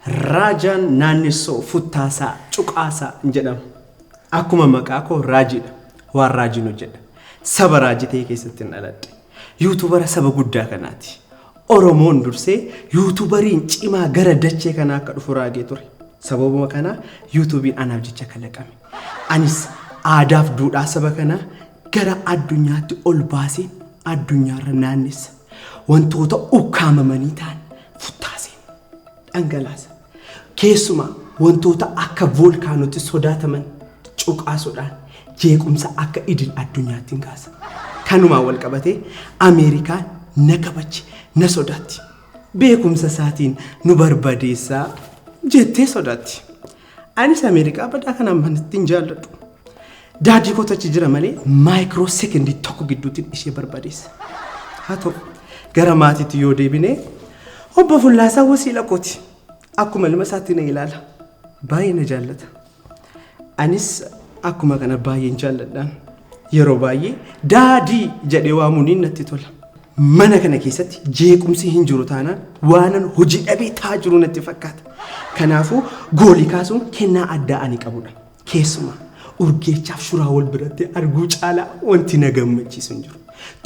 Raajaan naannessoo futtaasaa cuqaasaa hin jedhamu. Akkuma maqaa koo raajiidha. Waan raajiin hojjedha. Saba raajii ta'e keessatti hin dhaladhe. Yuutubara saba guddaa kanaati. Oromoon dursee yuutubariin cimaa gara dachee kanaa akka dhufu raagee ture. Sababuma kanaa yuutubiin anaaf jecha kalaqame. Anis aadaaf duudhaa saba kanaa gara addunyaatti ol baasee addunyaarra naannessa. Wantoota ukkaamamanii ta'an futtaaseen dhangalaasa. Keessumaa wantoota akka voolkaanootti sodaataman cuqaasuudhaan jeequmsa akka idil addunyaatti hin kaasa. Kanumaan wal qabatee Ameerikaan na kabajji, na sodaatti. Beekumsa isaatiin nu barbadeessaa jettee sodaatti. Anis Ameerikaa badaa kanaan manatti hin jaalladhu. Daadii kootu achi jira malee maayikiroo sekendii tokko gidduutiin ishee barbadeessa. Haa ta'u gara maatiitti yoo deebine obbo Fullaasaa wasiila kooti. Akkuma ilma isaatti na ilaala. Baay'ee na jaallata. Anis akkuma kana baay'een jaalladhaan. Yeroo baay'ee daadii jedhee waamuuniin natti tola. Mana kana keessatti jeequmsi hin jiru taanaan waanan hojii dhabee taa jiru natti fakkaata. Kanaafuu goolii kaasuun kennaa addaa ani qabudha. Keessumaa Urgeechaaf Shuraa wal biratti arguu caalaa wanti na gammachiisu hin jiru.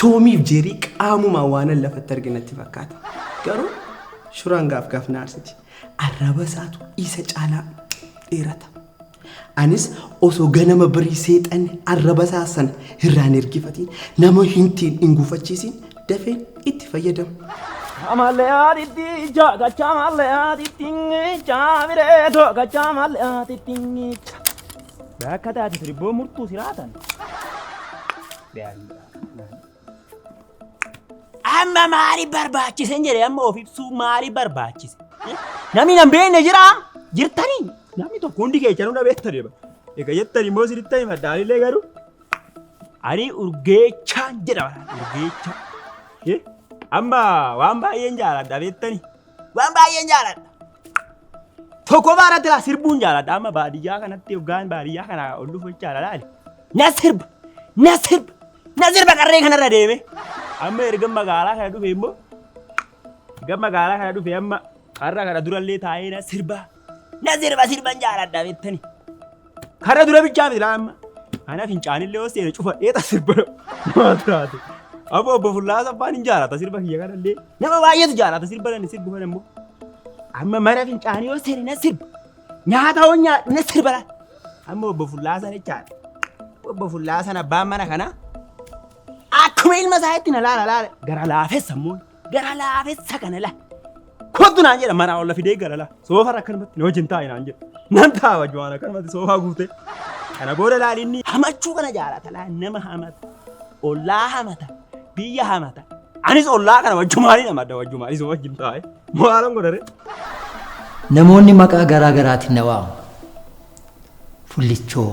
Toomiif Jeerii qaamumaa waanan lafatti arge natti fakkaata. Garuu Shuraan gaaf gaaf na aarsiti. Arraba isaatu isa caalaa dheerata. Anis osoo ganama birii seexanni arraba isaa sana irraan ergifatiin nama hintiin hin gufachiisiin dafee itti fayyadamu. Amaleyaatitti ija gacha amaleyaatitti ija bireeto gacha amaleyaatitti ija. Bakka taate sirbboo murtuu siraatan. Amma maali barbaachise hin jedhe amma of ibsuu maali barbaachise? Namni nan beekne jira jirtanii namni tokko hundi keessanuu na beektan egaa jettan immoo sirriitti himadha anillee garuu. Ani urgeechaan jedha walaal urgeechaa. Eh, Amma waan baay'een jaaladha beektani. Waan baay'een jaaladha. Tokko baarratti laa sirbuun jaaladha amma baadiyyaa kanatti hoggaan baadiyyaa kana ol dhufu jechaadha laali. Na sirba na sirba na sirba qarree kanarra deeme. Amma erga magaalaa kana dhufe immoo erga magaalaa kana dhufe amma har'a kana durallee taa'ee na sirba Na sirba sirban jaaladha beektani. Kana dura bichaa miti laamma. Ana fincaanillee yoo seene cufadhee ta sirba namaa turaate. Abbo obbo Fullaa Saffaan hin jaalata sirba kiyya kanallee. Nama baay'eetu jaalata sirba kana sirbu kana immoo. Amma mana fincaanii yoo seene na sirba. Nyaata hoo nyaadhu na sirba laata. Amma obbo Fullaa sana jechaadha. Obbo Fullaa sana abbaan mana kanaa akkuma ilma isaa itti na laala laala gara laafessa immoo. Gara laafessa kana la. Kottu naan jedha maraa olla fidee gara la. Soofara akkanumatti na wajjin taa'i naan jedha. Nan taa'a wajjin waan akkanumatti soofaa guutee. Kana booda laali inni hamachuu kana jaalata laa nama hamata. Ollaa hamata. Biyya hamata. Anis ollaa kana wajjumaanii namadda wajjumaanis wajjin taa'e. Maalan godhare? Namoonni maqaa garaa garaatiin na waamu. Fullichoo,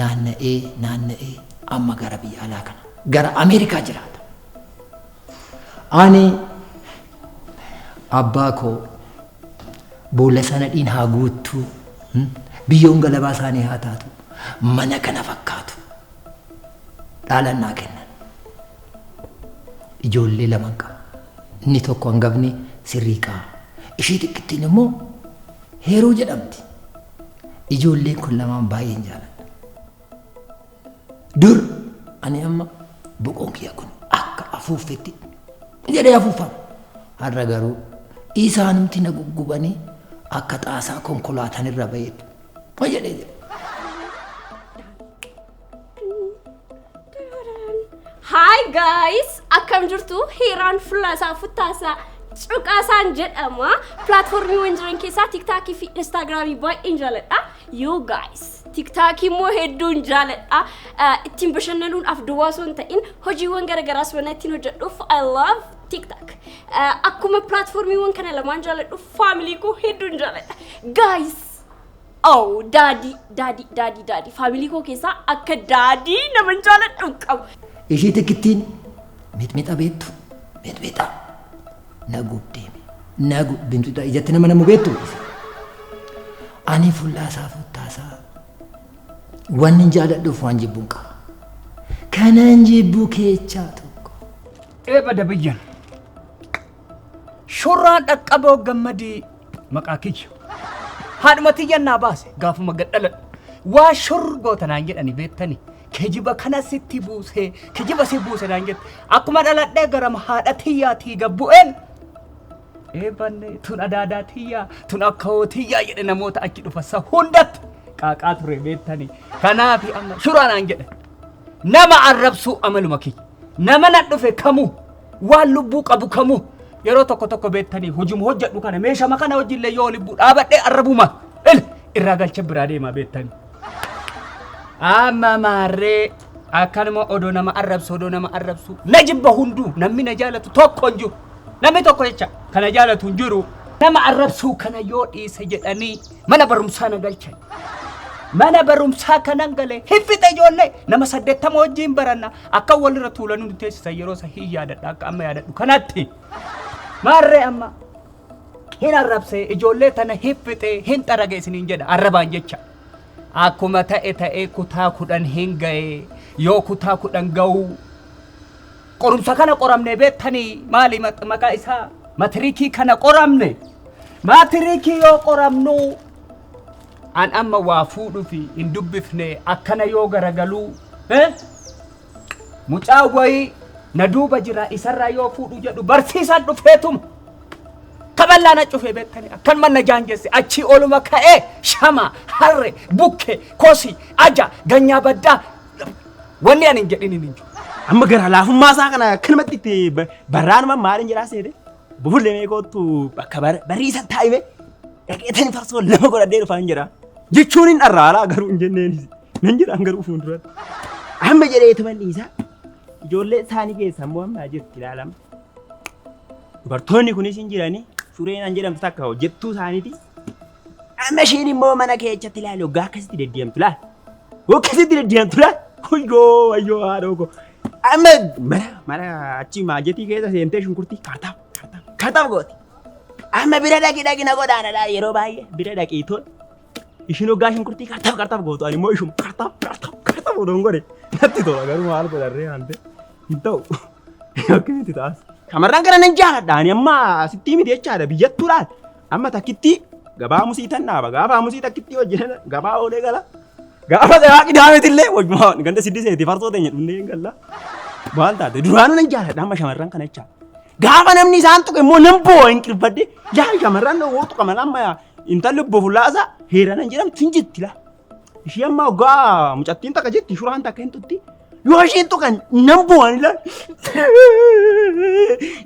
naanna'ee naanna'ee amma gara biyya alaa kana gara Ameerikaa jiraata. Ani abbaa koo boolla sana dhiin haa guuttuu hmm, biyyoon galabaa isaanii haa taatu mana kana fakkaatu dhaalan naa kennan. Ijoollee lama qaba. Inni tokko hangafni sirriiqaa. Ishii xiqqittiin immoo heeruu jedhamti. Ijoolleen kun lamaan baay'een jaaladha. Dur ani amma boqoon kiyya kun akka afuuffetti jedhee afuuffama. Har'a garuu isaanumti na guggubanii akka xaasaa konkolaataan irra ba'eetti. Ma jedhee jedhe. Hi guys! Akkam jirtu? Hiiraan fuula isaa futtaasaa cuqaasaan jedhama. Pilaatfoormiiwwan jiran keessaa TikTokii fi Instaagiraamii baay'een jaaladha. Yoo guys! TikTokii immoo hedduun jaaladha. Eh, Ittiin bashannanuudhaaf duwwaa osoo hin ta'in hojiiwwan garaagaraas waan ittiin hojjedhuuf I love TikTok. Eh, Akkuma pilaatfoormiiwwan kana lamaan jaaladhu faamilii koo hedduun jaaladha. Guys! Oh, daadii, daadii, daadii, daadii. Faamilii koo keessaa akka daadii nama hin jaaladhu hin qabu. Ishii tikittiin mixmixa beektu mixmixa na gubdeemi na gub mixmixa ijatti nama namu beektu ani fullaasaa futtaasaa waan hin jaaladhuuf waan jibbuun qaba kanan jibbuu keechaa tokko. Eebba dabiyyan. Shurraan dhaqqaboo gammadii maqaa kiyya. Haadhuma tiyyan naa baase gaafuma gad dhaladhu. Waa shur goota naan jedhani beektani. Kijiba kana sitti buusee kijiba si buuse naan jette. Akkuma dhaladhee garama haadha tiyyaatii gad bu'een eebanne tun adaadaa tiyyaa tun akkawoo tiyyaa jedhe namoota achi dhufassa hundatti qaaqaa ture beektani. Kanaafi amma shuraan aan jedhe nama arrabsuu amaluma kiyya. Nama na dhufe kamuu Waan lubbuu qabu kamuu yeroo tokko tokko beektanii hojuma hojjedhu kana meeshama kana wajjillee yoo lubbuu dhaabadhee arrabuma il irraa galcha biraa deemaa beektanii. Amma maarree akkanuma odoo nama arrabsu odoo nama arrabsu na jibba hunduu namni na jaalatu tokko hin jiru namni tokko jecha kana jaalatu hin jiru nama arrabsuu kana yoo dhiise jedhanii Mana barumsaa na galchan. Mana barumsaa kanan galee hiffixa ijoollee nama saddeettama wajjin baranna akka walirra tuulanii nu teessisan yeroo isa hin yaadadha akka amma yaadadhu kanatti. Maarree amma hin arrabsee ijoollee tana hiffixee hin xarage isiniin jedha arrabaan jecha. Akkuma ta'e ta'ee kutaa kudhan hin ga'ee yoo kutaa kudhan ga'uu Qorumsa kana qoramnee beektanii maali maq- maqaa isaa? Matirikii kana qoramne. Matirikii yoo qoramnu an amma waa fuudhufi hin dubbifne akkana yoo garagaluu eh? mucaa wayii na duuba jira isarraa yoo fuudhu jedhu barsiisaan dhufeetuma. Kaballaa na cufee beektanii akkanuma na jaanjesse achii oluma ka'ee shama harre bukke kosi aja ganyaa baddaa Wanni ani hin jedhin hin jiru. Amma gara laafummaa isaa kana akkanumatti itti ba- barraanuma maaliin jedhaa seete? Bufulle mee koottu bakka bar- bariisan taa'ime dhaqeetani farsoo lama godhadhee dhufaan jedha. Jechuun hin dharraalaa garuu hin jenneenis. Nan jedhaan garuu fuulduratti. Amma jedhee tuman dhiisaa. Ijoollee isaanii keessa immoo amma jirti ilaalama. Dubartoonni kunis hin jiranii sureen an jedhamtu takka hojjettuu isaaniiti. Amma isheen immoo mana keessatti ilaali hoggaa akkasitti deddeemtu laal. Akkasitti deddeemtu laal. Wayyoo wayyoo haadhoo koo. Amma mana mana achi maajetii keessa seentee shunkurtii kaartaa kaartaa kaartaa gooti. Amma bira dhaqi dhaqi na godhaana laal yeroo baay'ee bira dhaqi tol. Ishiin hoggaa shunkurtii kaartaa kaartaa gootu ani immoo ishuma kaartaa kaartaa kaartaa odoon godhe. Natti tola garuu maal godharree hante hin ta'u. Akkasitti taas. Shamarran kana nan jaaladha ani amma asitti miti jechaadha biyyattuu laal. Amma takkittii gabaa hamusii tan dhaaba. Gaafa hamusii takkittii hojjetan gabaa oolee gala. Gaafa gabaa qidaameeti illee wajjuma ganda siddii seeti farsoo teenya dhumnee hin galla. Maal taate duraanuu nan jaalladha amma shamarran kana jechaa. Gaafa namni isaan tuqe immoo nan boo'a hin qirfadde. Yaa shamarran dhowwoo tuqa mala amma yaa intalli obbo Fullaasaa heera nan jedhamtu hin jetti laa. Ishii amma ogaa mucattiin takka jetti shuraan takka hin tutti. Yoo isheen tuqan nan boo'an ilaa.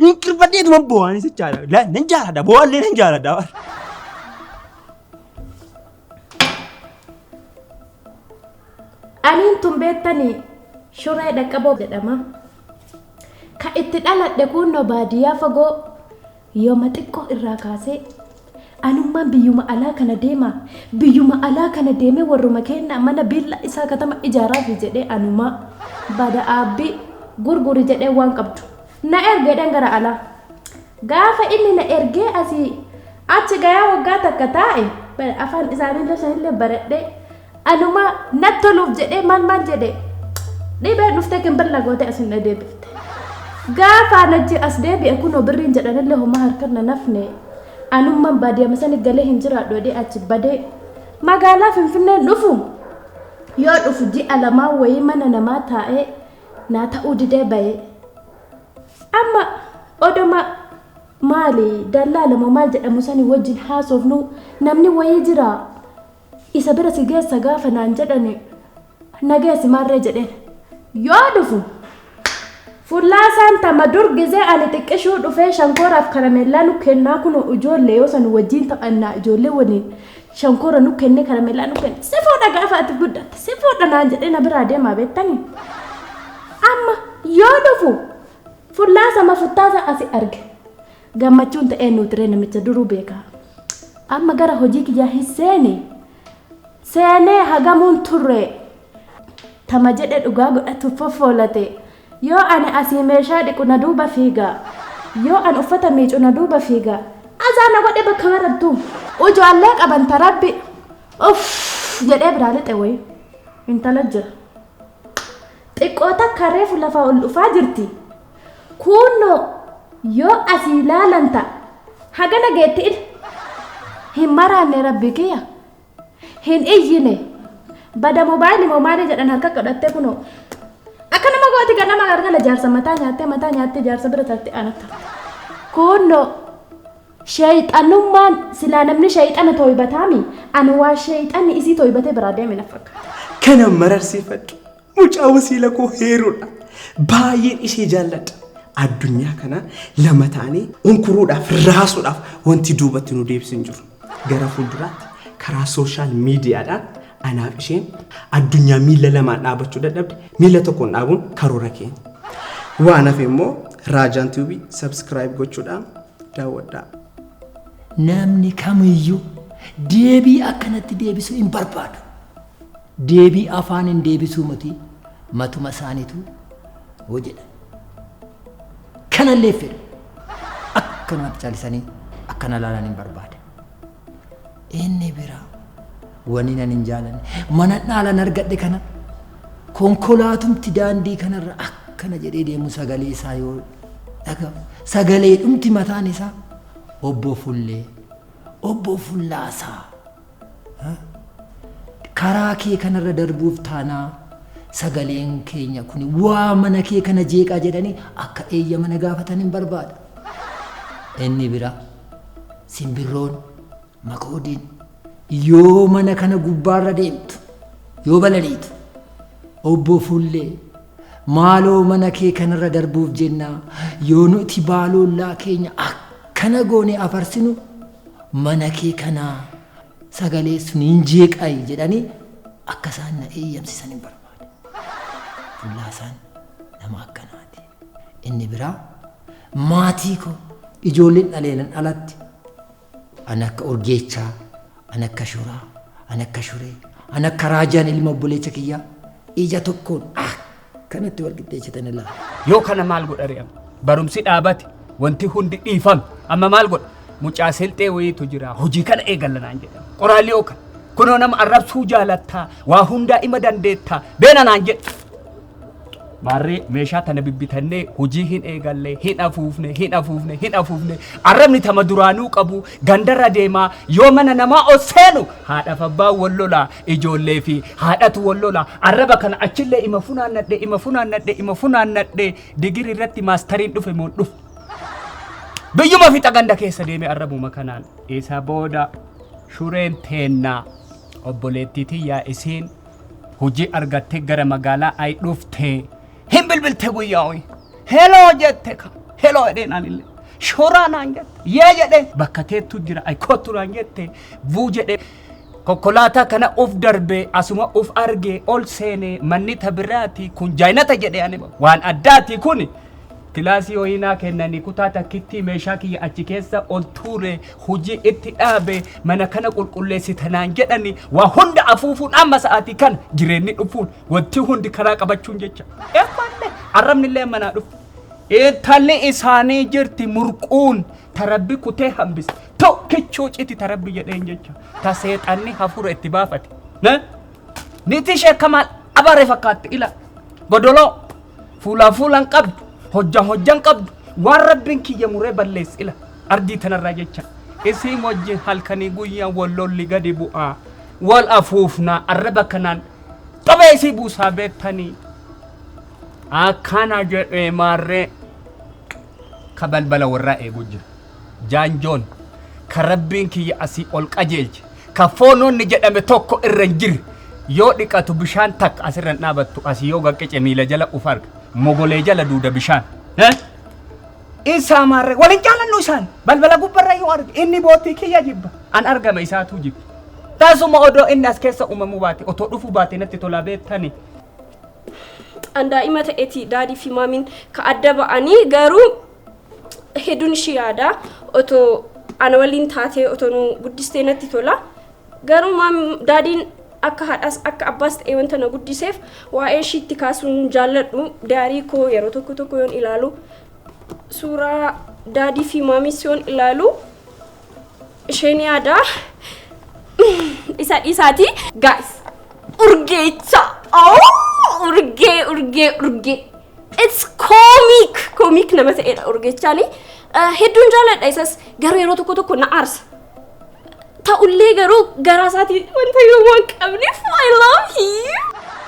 Hin qirfadheetu man boo'an isa jaala. Ilaa nan jaaladha boo'allee nan jaaladha. Aniin tun beektanii shuree dhaqqaboo jedhama. Ka itti dhaladhe kunnoo baadiyyaa fagoo Yooma xiqqoo irraa kaasee anummaan biyyuma alaa kana deemaa, biyyuma alaa kana deemee warruma keennaa mana biillaa isaa katama ijaaraafi jedhee anumaa, Bada Aabbii, gurguri jedhee waan qabdu na erge jedheen gara alaa. Gaafa inni na ergee asii achi gayaa waggaa takka taa'e, afaan isaaniillee sanillee baradhee, Anuma nat toluuf jedhee maal maal jedhe dhibee dhuftee kinbir na gootee asin na deebifte. Gaafaan achi as deebi'e kunoo birriin jedhanillee homaa harkan na nafne. Anumman baadiyama sani galee hin jiraadhu jedhee achi badee magaalaa Finfinneen dhufu yoo dhufu ji'a lamaa wayii mana namaa taa'ee naa ta'uu didee bayee. Amma odoma maali dallaala moo maal jedhamu sani wajjin haasofnu namni wayii jiraa. Isa bira si geessa gaafa naan jedhani na geessi maarree jedheen. Yoo dhufu fullaa isaan tama dur gizee ani xiqqishuu dhufee shankooraaf karameellaa nu kennaa kunoo ijoollee yoo san wajjiin taphannaa ijoollee waliin shankoora nu kenne karameellaa nu kenne si fuudha gaafa ati guddatte si fuudha naan jedhee na biraa deemaa beettanii. Amma yoo dhufu fullaa sama futtaasa asi arge. Gammachuun ta eennuuti ree namicha duruu beeka amma gara hojii kiyyaa hin seene seenee hagamuun turree tama jedhe dhugaa godhatuuf foffoolate yoo ani asii meeshaa dhiqu na duuba fiiga yoo an uffata miicu na duuba fiiga azaa na godhe bakka marartuu ujoolle qaban ta rabbi uff jedhee biraa lixe woyi intala jira Xiqqoo takka reefu lafaa ol dhufaa jirti. Kuunnoo yoo asii laalan ta, hagana geetti ila. Hin maraanne rabbi kiya. Hin iyyine. Bada mobaayili moo maali jedhan harka godhattee kunoo. Akkanuma gooti ganama galgala jaarsa mataa nyaattee mataa nyaattee jaarsa bira tarti anattu. Kuunnoo. Sheyxanummaan silaa namni sheyxana toybataami ani waa sheyxanni isii toybatee biraa deeme na fakkaata. Kana mararsiifadhu. Mucaa wasiila koo heeruudha. Baay'een ishee jaalladha. Addunyaa kana lama taanee unkuruudhaaf, raasuudhaaf wanti duubatti nu deebisu hin jiru. Gara fuulduraatti karaa sooshaal miidiyaadhaan anaaf isheen addunyaa miila lamaan dhaabachuu dadhabde miila tokkoon dhaabuun karoora keenya. Waan hafe immoo Raajaan Tube subscribe gochuudhaan daawwadhaa. Namni kamiyyuu deebii akkanatti deebisu hin barbaadu. Deebii afaaniin deebisuu miti matuma isaaniitu hojedha. Kanallee fedhu akkanumatti caalisanii akkana laalan hin barbaada. Inni biraa wani nan hin jaalanne mana dhaalan argadhe kana konkolaatumti daandii kanarra akkana jedhee deemu sagalee isaa yoo dhaga sagalee dhumti mataan isaa obbo Fullee obbo Fullaasaa ha? karaa kee kanarra darbuuf taanaa sagaleen keenya kun waa mana kee kana jeeqaa jedhanii akka eeyyama na gaafatan hin barbaada. Inni biraa Simbirroon makoodiin yoo mana kana gubbaarra deemtu yoo balaliitu obbo Fuullee maaloo mana kee kanarra darbuuf jennaa yoo nuti baaloollaa keenya akkana goone afarsinu mana kee kanaa sagalee sun hin jeeqayi jedhanii akka isaan na eeyyamsisan hin barbaade. Fullaasaan nama akkanaati. Inni biraa maatii koo ijoolleen dhaleelan alatti an akka urgeechaa, an akka shuraa, an akka shuree, an akka raajaan ilma obboleecha kiyyaa ija tokkoon ah kanatti wal qixxeessitan ilaa. Yoo kana maal godha re'am? Barumsi dhaabate wanti hundi dhiifame amma maal godha? Mucaa selxee wayiitu jira hojii kana eegallanaan jedhama. Qoraalli ookan kunoo nama arrabsuu jaalattaa waa hundaa ima dandeettaa beena naan jedhe. Maarree meeshaa tana bibbitannee hojii hin eegalle, hin afuufne, hin afuufne, hin afuufne. Arrabni tama duraanuu qabu gandarra deemaa yoo mana namaa ol seenu haadhaaf abbaan wal lolaa, ijoollee fi haadhatu wal lolaa. Arraba kana achillee ima funaannadhe, ima funaannadhe, ima funaannadhe digirii irratti maastariin dhufe moon dhufe. Biyyuma fixa ganda keessa deeme arrabuma kanaan. Isa booda shureen teennaa obboleettii tiyyaa isiin Hojii argattee gara magaalaa ayi dhufte hin bilbilte guyyaa hoyi. Heloo jette ka. Heloo jedheen anillee. Shoraa naan jette. Yee jedhee bakka teettu jira ayi kottu naan jette. Vuu jedhee konkolaataa kana uf darbee asuma uf argee ol seenee manni ta biraati kun jaayinata jedhee ani waan addaati kuni. Kilaasii wayii naa kennanii kutaa takkittii meeshaa kiyya achi keessa ol tuure hujii itti dhaabe mana kana qulqulleessita naan jedhani waa hunda afuufuun amma sa'aatii kana jireenni dhufuun wanti hundi karaa qabachuun jecha eemmallee arrabnillee amma naa dhufu. Intalli isaanii jirti murquun tarabbi kutee hambise tokkichuu citi tarabbi jedheen jecha ta seexanni hafuura itti baafate. Na Niitii ishee akka maal abaaree fakkaatti ila godoloo fuulaan fuulaan qabdu hojjan hojjan qabdu waan rabbiin kiyya muree balleessi ila ardii tanarraa jecha isiin wajjin halkanii guyyaan wal lolli gadi bu'aa wal afuufnaa arraba kanaan xobee isii buusaa beektanii akkana jedhee maarree ka balbala warraa eeguu jira. Jaanjoon, ka Rabbiin kiyya asii ol qajeelche, ka foon wonni jedhame tokko irra hin jirre, yoo dhiqatu bishaan takka as irra hin dhaabattu, asii yoo gad qece miila jala uf arga, mogolee jala duuda bishaan. Hee? In saamaan ree? Wal hin jaalannu isaan? Balbala gubba irra yoo arge, inni boottii kiyya jibba, an argama isaatuu jibba. Tasuma odoo inni as keessa uumamuu baate, otoo dhufuu baate natti tolaa beettanii? An daa'ima ta'eeti, Daadii fi Maamiin ka adda ba'anii, garuu hedduun ishii yaada otoo ana waliin taatee otoo nu guddistee natti tola garuu maam daadiin akka haadhaas akka abbaas ta'ee wanta na guddiseef waa'ee ishiitti kaasuun jaalladhu daarii koo yeroo tokko tokko yoon ilaalu suuraa daadii fi maamiis yoon ilaalu isheen yaada isa dhiisaati gaa'is urgeecha urgee urgee urgee It's comic! Comic nama ta'edha urgechaani. Eh, Hedduun jaaladha isas garuu yeroo tokko tokko na aarsa. Ta'ullee garuu garaa isaatii wanta yoo waan qabneef I love him.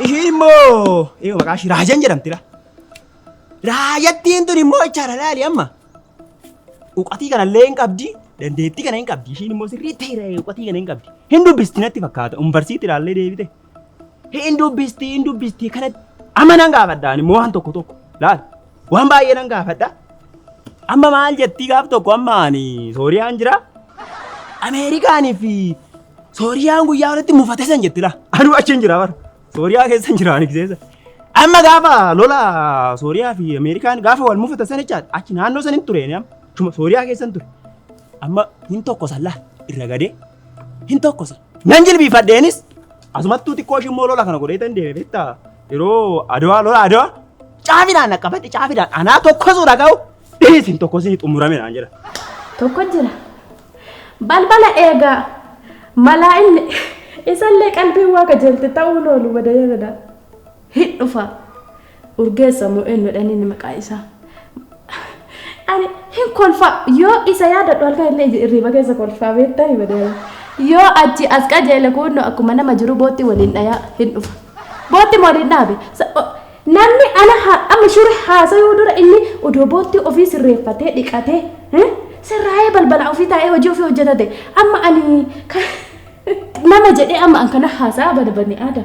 Ishiin immoo eega maqaa ishii Raajan jedhamti dha. Raajattiin tun immoo ichaara laali amma. Uqatii kana illee hin qabdi, dandeettii kana hin qabdi. Ishiin immoo sirrii ta'eera uqatii kana hin qabdi. Hin dubbisti natti fakkaata. Umbarsiitti ilaallee deebite. Hin dubbisti, hin dubbisti kanatti. Amma nan gaafadha ani immoo waan tokko tokko. Laal, waan baay'ee nan gaafadha. Amma maal jettii gaaf tokko amma ani Sooriyaan jira. Ameerikaanii fi Sooriyaan guyyaa walitti mufate san jetti laa. Anu achi hin jira bara. Sooriyaa keessa hin jira ani keessa. Amma gaafa lola Sooriyaa fi Ameerikaan gaafa wal mufatan san jechaadha. Achi naannoo san hin ture ani amma. Achuma Sooriyaa keessa hin ture. Amma hin tokko san laa irra gadee hin tokko san. Nan jilbiifadheenis asumattuu xiqqoo ishii immoo lola kana godhee tan deeme beektaa yeroo adawaa lola adawaa caafidhaan dhaqqabadhe caafidhaan anaa tokkosu dhaga'u dhiisin tokkosin xumurame naan jedha. Tokko jira. Balbala eegaa malaa inni isallee qalbiin waa qajeelte ta'uu loolu wada yaadadha. Hin dhufa! Urgeessa moo eenyudha inni inni maqaa isaa? Ani hin kolfa yoo isa yaadadhu halkan illee iji irriiba keessa kolfaa beektaa ni badeera. Yoo achi as qajeele kuunnoo akkuma nama jiru bootti waliin dhayaa hin dhufa. Bootti moo waliin dhaabe? Sa- o- Namni ana ha- amma shuri haasayuu dura inni odoo bootti ofii sirreeffatee dhiqatee eh, sirraa'ee balbala ofii taa'ee hojii ofii hojjetate amma ani ka- nama jedhee amma an kana haasaa barbaadne aada.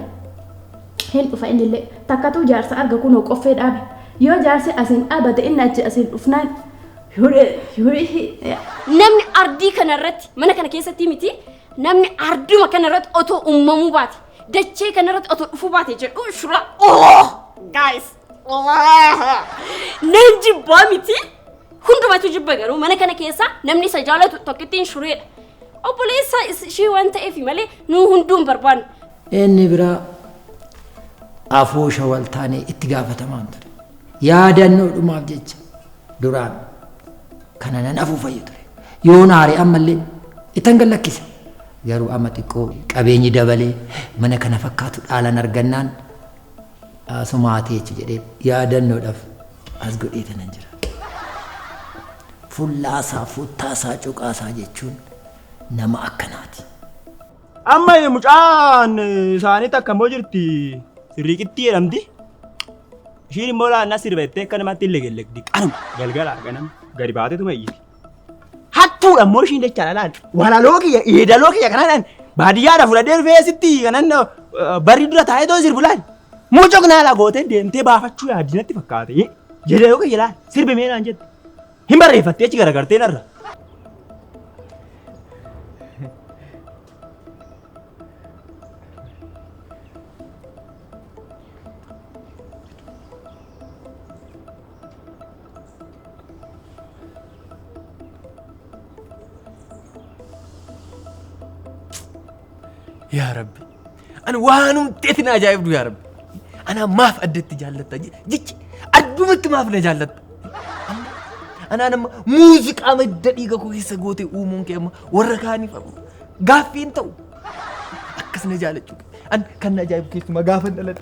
Hin dhufa innillee. Takkatuu jaarsa arga kunoo qoffee dhaabe. Yoo jaarsi asiin dhaabate inni achi asiin dhufnaan Huree! Huree! Namni ardii kana irratti mana kana keessatti miti namni arduma kana irratti otoo uumamuu baate dachee kana irratti otoo dhufuu baate jedhu shura oh guys Nan jibbaa miti. Hundumatu jibba garuu mana kana keessa namni isa jaalatu tokkittiin shureedha. Obboleessa is- ishee waan ta'eef malee nuu hunduu hin barbaannu. Inni biraa afoosha wal taanee itti gaafatamaan ture. Yaadannoo dhumaaf jecha duraan kana nan afuufayyu ture. Yoo naare ammallee ittan gad lakkisa. Garuu amma xiqqoo qabeenyi dabalee mana kana fakkaatu dhaalan argannaan Asumaatii achi jedhee yaadannoodhaaf as godheetanan jira. Fullaasaa, futtaasaa, cuqaasaa jechuun nama akkanaati. Amma mucaan isaanii takka immoo jirti riiqittii jedhamti. Ishiin immoo laannaa sirba jettee akka namatti hin legellegdi. Qanuma galgala ganama gadi baateetuma iyyiti. Hattuudha immoo ishiin jecha lalaan walaloo kiyya yeedaloo kiyya kanaan baadiyyaadha fudhadhee dhufee sitti kanan barri dura taa'ee too sirbu laal. Mucok naala gootee deemtee baafachuu yaadinatti fakkaate. Yeedaloo kiyya laal sirbi mee naan jette. Hin barreeffattee achi garagartee narra. Yaa Rabbi, ani waanumti ati na ajaa'ibdu yaa Rabbi. Anaa maaf addatti jaallatta je- jechi addumatti maaf na jaallatta. Amma- Anaan amma muuziqaa madda dhiiga koo keessa goote uumuun kee amma warra kaaniif amma gaaffii hin ta'u. Akkas na jaallachuu kee. An kan na ajaa'ibu keessumaa gaafa dhaladhe.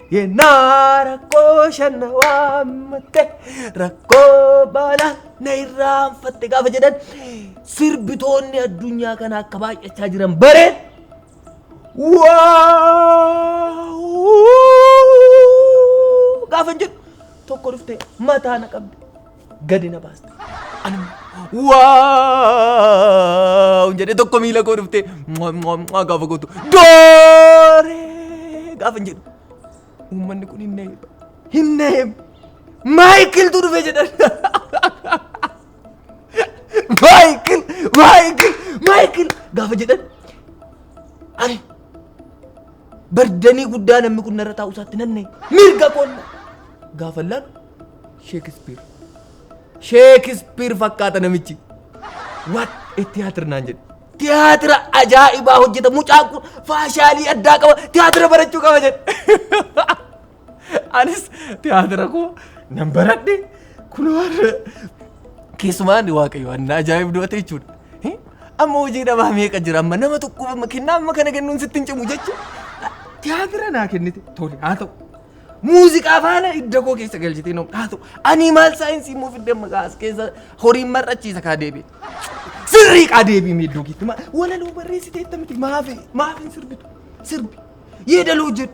Yennaa rakkoo shanna waammatte rakkoo baalaa na irraanfatte gaafa jedhan sirbitoonni addunyaa kana akka baay'achaa jiran bare. Waaw! Gaafa jedhu tokko dhufte mataa na qabde. gadi na baaste. Ani waaw jedhee tokko miila koo dhuftee mwaa, mwaa, mwaa gaafa gootu dooree gaafa hin jedhu uummanni kun hin neebu hin neebu maayikiltu dhufe jedhan maayikil maayikil maayikil gaafa jedhan ani bardanii guddaa namni kun narra taa'u isaatti nanne mirga koonna gaafa laalu Sheekispiir. Sheekispiir fakkaata namichi. What a theatre naan jedhe. Tiyaatira ajaa'ibaa hojjeta mucaan kun faashaalii addaa qaba tiyaatira barachuu qaba jedhe. Anis tiyaatira koo nan baradhe kunoo keessumaan waaqayyo anna ajaa'ibdu ate jechuudha. Eh, Amma hojii dhabaa meeqa jira amma nama tokkoof amma kennaa amma kana kennuun sitti hin cimu jechuudha. Tiyaatira naa kennite tole haa ta'u Muuziqaa faana hidda koo keessa galchitee na haa ta'u. Ani maal saayinsii immoo fidde amma kaa as keessa horiin mar'achiisa kaa deebi'e. Sirrii kaa deebi'e miiddoo keetti. Ma- Walaloo barreessitee itti miti maafi maafi hin sirbitu sirbi. Yeedaloo jedhu.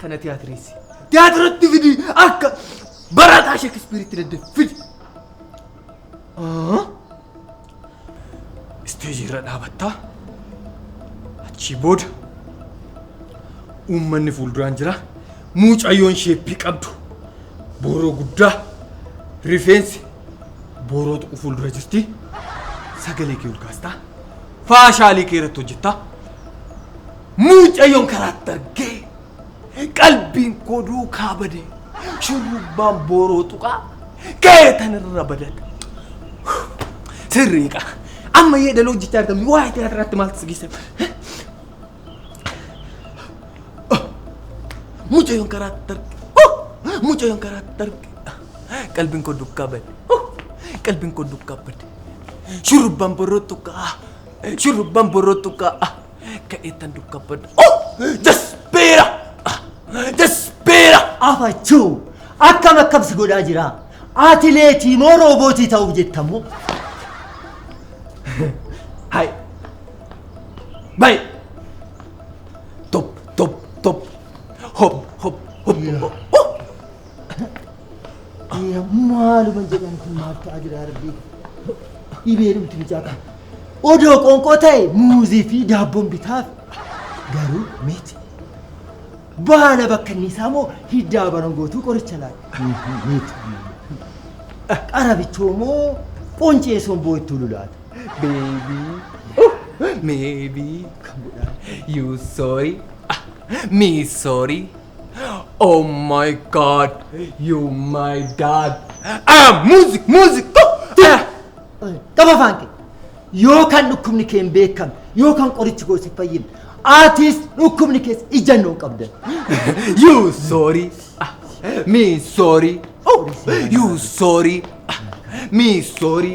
kana tiyaatireessi. Tiyaatiratti fidi akka barataa Sheekispiiritti daddee fidi. Isteejii irra dhaabattaa achii booda uummanni fuulduraan jira muucayyoon sheeppii qabdu booroo guddaa rifeensi booroo tuqu fuuldura jirti sagalee kee ol kaastaa faashaalii kee irratti hojjettaa Mucayyoon karaatti argee qalbiin koo duukaa badee shurrubbaan booroo tuqaa ga'ee tanirra badate. Sirriiqa amma yeedaloo jechaa argamni waa'ee tiyaatiraatti maaltu si geesse? Mucayyoon karaatti arge. Mucayyoon karaatti arge. Qalbiin koo duukaa bade. Qalbiin koo duukaa bade. Shurrubbaan booroo tuqaa. Shurrubbaan booroo tuqaa. Kadheettan dukkabbadda. Oh! Jasbeera! Ah! Jasbeera! Afachuu! Akkam akkam si godhaa jira? Atileetii moo roobootii ta'uuf jetta moo? Hai! Bai! Top, top, top. Hop, hop, hop, hop. Oh! Ee, maaluma jedhan kun maal ta'a jira yaa rabbii dhibee dhumti mucaa kana odoo qoonqoo ta'e muuzii fi daabboon bitaaf garuu miti baala bakka inni isaa moo hiddaa barangootuu qoricha laata miti qarabichoo moo quncee somboo ittuu lulaata beebii Maybe. Come on. You sorry. Ah, me sorry. Oh my god, you my dad. Ah, music, music. Oh, ah. Qaba afaan kee. Yoo kan dhukkubni kee hin beekamne, yoo kan qorichi koo si fayyine, atis dhukkubni kees ijannoo qabda. You sorry. Ah, Me sorry. Oh, you sorry. Ah, Me sorry.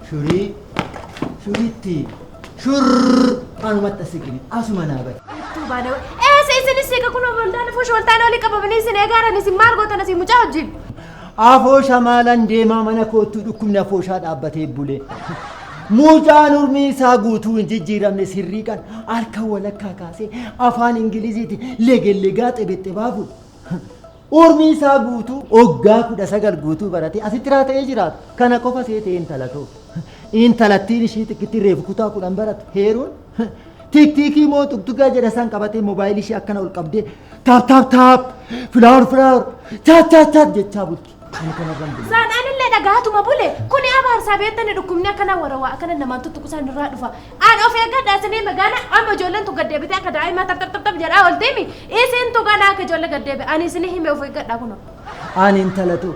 Shurii shuritti shurr anumatti as siqini asuma naa bari. Tuu baada eessa isinis siqa kun oboltaan afoo shooltaan olii qabamanii isin eegaaran isin maal gootan isin mucaa wajjin. Afoosha maalan deemaa mana koottuu dhukkubni afooshaa dhaabbatee bule. Mucaan urmii isaa guutuu hin jijjiiramne sirriiqan harka walakkaa kaasee afaan Ingiliziiti legellegaa xebexxebaa bulu. Urmii isaa guutuu oggaa 19 guutuu baratee asitti raata'ee jiraata. Kana qofa seetee intala too. Intalattiin ishii xiqqittiin reefu kutaa 10 baratu heeruun tiktiikii moo tuktuggaa jedha isaan qabatee moobaayilii ishii akkana ol qabdee taap taap taap filaawur filaawur chaat chaat chaat jechaa bulti. Ani kana irraan bule. Saan anillee dhagaatuma bule kuni abaarsaa beektani dhukkubni akkana warawaa akkana namaan tuttuqusaan irraa dhufa An of eeggadha isinii magaana amma ijoolleen tun gaddeebitee akka daa'imaa taptaptap jedhaa olteemi isin tu ganaa akka ijoollee gaddeebe ani isinii hime of eeggadha kuno. An intalatu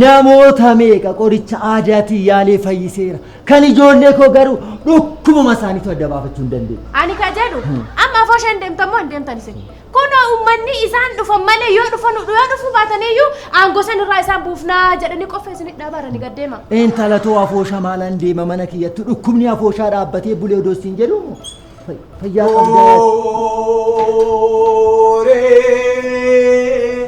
namoota meeqa qoricha aadaatiin yaalee fayyiseera. Kan ijoollee koo garuu dhukkubuma isaaniitu adda baafachuu hin dandeenye. Ani ka jedhu amma afoo isheen deemtan moo hin deemtan isin Kunoo ummanni isaan dhufan malee yoo dhufan yoo dhufuu baataniyyuu aangoo san irraa isaan buufnaa jedhanii qoffa isinit dhaabaaranii gad deema. Intala too afoosha maalan deema mana kiyyattu dhukkubni afooshaa dhaabbatee bulee odoo siin jedhu fayyaa qabdaa. Ooree.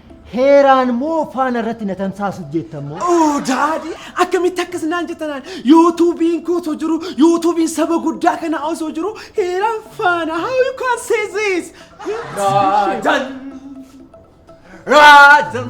Heeraan moo faana irratti na tamsaasuuf jeettan moo? Oo daadii akkamitti akkas naan jettanaan yuutuubiin koo osoo jiru yuutuubiin saba guddaa kanaa osoo jiru heeraan faana how you can say this? Raajan! Raajan!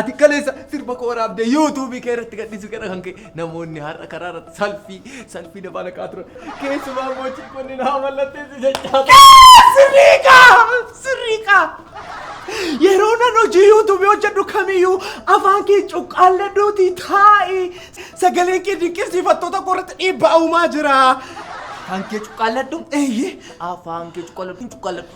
Ati kaleessa sirba koo waraabdee yuutuubii kee irratti gadhiisuu keedha kan ka'e namoonni har'a karaa irratti salfii salfii na baala ka'aa turan. Keessumaa immoo chiikonni naa mallatteessu jechaa turan. Sirrii kaa! Sirrii kaa! Yeroo nan hojii yuutuubii hojjedhu kamiyyuu afaan kee cuqqaallee duutii taa'i. Sagaleen kee dinqisiifattoota koo irratti dhiibbaa uumaa jira. Afaan kee cuqqaalladhu. Eeyyee. Afaan kee cuqqaalladhu cuqqaalladhu.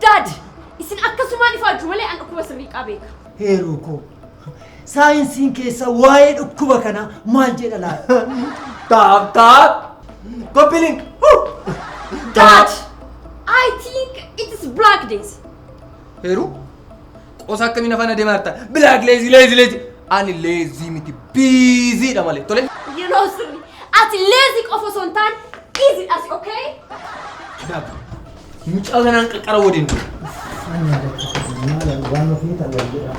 Dad! Isin akkasumaan ifaajju malee an dhukkuba sirrii qaa beeka. Heeroo koo! Saayinsiin keessaa waa'ee dhukkuba kanaa maal jedha laata? Taap taap! Copy link! Dad! I think it is black days. Heeruu? Qosa akkamii na faana deemaa jirta? Bilaak leezii leezii leezii. Ani leezii miti biiziidha malee. Tole. Yeroo sirri. Ati leezii qofa osoo hin taane biiziidhas okay? Kitaaba. Mucaa kanaan qaqqara waliin. Waan ofii ta'u wal jedhaa.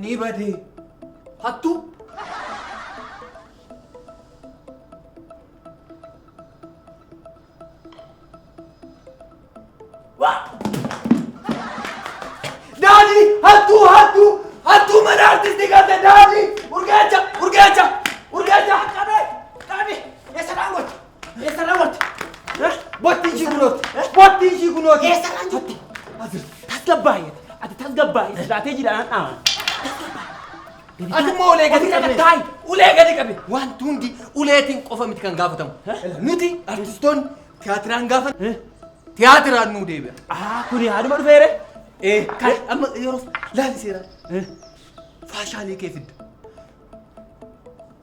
Ni badee. Hattuu. Daadhii hattuu hattuu hattuu mana artistii galte daadhii urgeecha urgeecha urgeecha qabe qabe eessa dhaangocha Eessa raawwatti? Botti ishii kunooti. Botti ishii kunooti. Eessa raawwatti? Tasgabbaa'e. Ati tasgabbaa'e. Jiraatee jiraanaan dhaaman. Ati immoo ulee gadi qabe. Taayi. Ulee gadi qabe. Wanti hundi uleetiin qofa miti kan gaafatamu. Nuti artistoonni tiyaatiraan gaafa tiyaatiraan nuu deebi'a. Aa kuni haaduma dhufeere. Ee kan amma yeroo laali seeraa. Faashaalee kee fidda.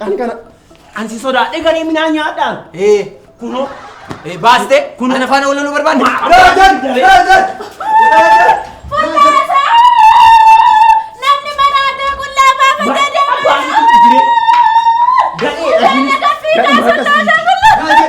Ani kana ani si sodaadhe garee minaa nyaadhaa. Ee kunoo ee baaste kun ana faana wallaluu barbaadde. Raajan! Raajan! Raajan! Namni mana addaa qullaa baafata deema. Gadhee dhagini. Gadhee harka sii.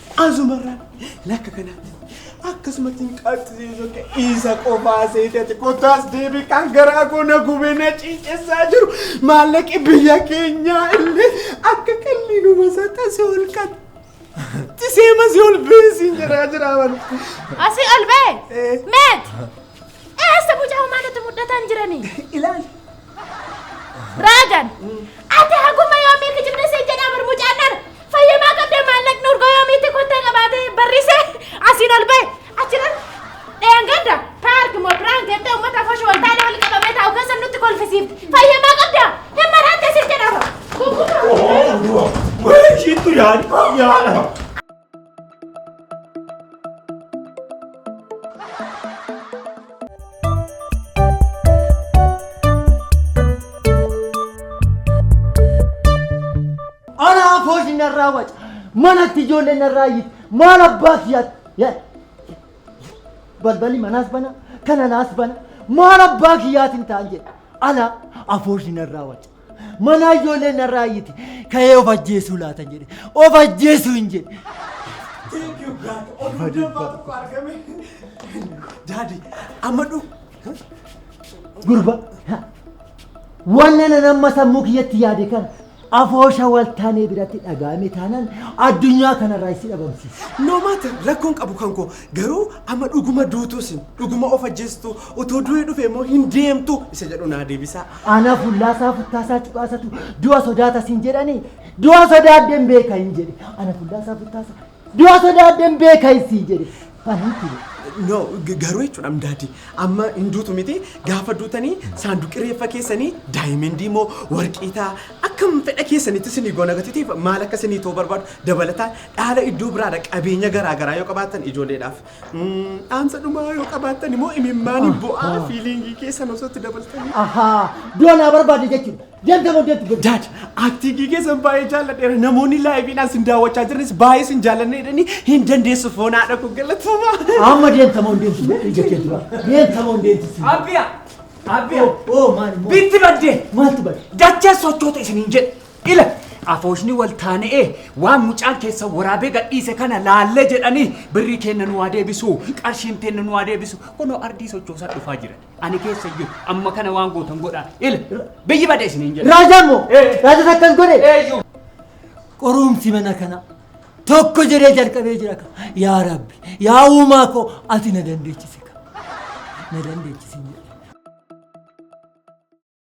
Azumarraan lakka kanaatti akkasumatti hin qaacisiisu akka isa qofaa seetati kottaas deebii kan garaa koo na gubee na ciicessaa jiru maallaqi biyya keenyaa illee akka qalliinuma isaa tasee ol kan tisee masii ol beesiin jedhaa jira waan. Asii ol ba'e. Meet. Eessa mucaa homaa nutti muddataan jirani? Ilaali. Raagan. Ati haguma yoomii kijibda siin jedhaa bar mucaan dhara. Fayyamaa qabdee maallaqni urgoo yoomiitti kottee qabaatee barrisee asiin ol bahe. Achiran dheengadda paark moo piraank jettee uummata afoo shooltaalee wal qabamee taa'u keessa nutti kolfisiifte. Fayyamaa qabdaa? Hin maraattee siin jedhaa bar. Kukkuma. Wayii shiittu yaani. Yaadha. Anaa foos narraa waca. Manatti ijoollee narraa iyyiti. Maal abbaa siyaati? Balballi manaas bana, kan alaas bana. Maal abbaa kiyyaatiin ta'an jedhe. Alaa afooshi narraa waca. Manaa ijoolleen narraa iyyiti. Ka'ee of ajjeesuu laatan jedhe. Of ajjeesuu hin jedhe. Thank you God. Oduu dambaa tokko argame. Daadi, amma dhu. Gurba. Wanna nan amma sammuu kiyyatti yaade kana afoosha waltaanee biratti dhagaame taanaan addunyaa kanarraa isi dhabamsiisa. No matter rakkoon qabu kan koo Garuu amma dhuguma duutuu isin dhuguma of ajjeestuu utuu du'ee dhufe immoo hin deemtu isa jedhu naa deebisaa. Aanaa fullaasaa futtaasaa cuqaasatu du'a sodaata siin jedhanii du'a sodaadden beeka hin jedhe ana fullaasaa futtaasa du'a sodaadden beeka hin siin jedhe aniitti jedhe. No g- garuu jechuudha daadii amma hin duutu miti gaafa duutanii saanduqi reeffa keessanii daayimendii moo warqii ta'a akkam fedha keessanitti isinii goona gatitiif maal akka isinii ta'u barbaadu dabalataan Dhaala iddoo biraa dha qabeenya garaa garaa yoo qabaattan ijoolleedhaaf. Dhaamsa dhumaa yoo qabaattan immoo imimmaanii bo'aa fiiliingii keessan osoo itti dabaltanii. Ahaa, du'a naa barbaade jechuudha. Deemta booddee itti godhu. Daad, aktiigii keessan baay'ee jaalladheera. Namoonni laayiviidhaan sin daawwachaa jiranis baay'ee sin jaallanne jedhanii hin dandeessu foon haadha koo galatoomaa. Amma deemta moo hin deemtu jedhee jettee dura. Deemta moo hin deemtu si. Abbiya! Abbiya! Oo maal immoo? Bitti badde! Maaltu badde? Dachee sochoota isiniin jedhe. Ila! Afooshni wal taana'ee waan mucaan keessan waraabee gadhiise kana laallee jedhanii birrii keenna nu haa deebisuu, qarshiin teenna nu haa deebisuu. Kunoo ardii sochoosaa dhufaa jiran. Ani keessa hin jiru. Amma kana waan gootan godhaa. Ila! Biyyi bade isiniin jedha. Raajaan moo? Ee. Raajaan akkas godhe? Eeyyu. Qorumsi mana kana tokko jedhee jalqabee jira ka. Yaa Rabbi, yaa uumaa koo ati na dandeechisi ka. Na dandeechisi hin jedhe.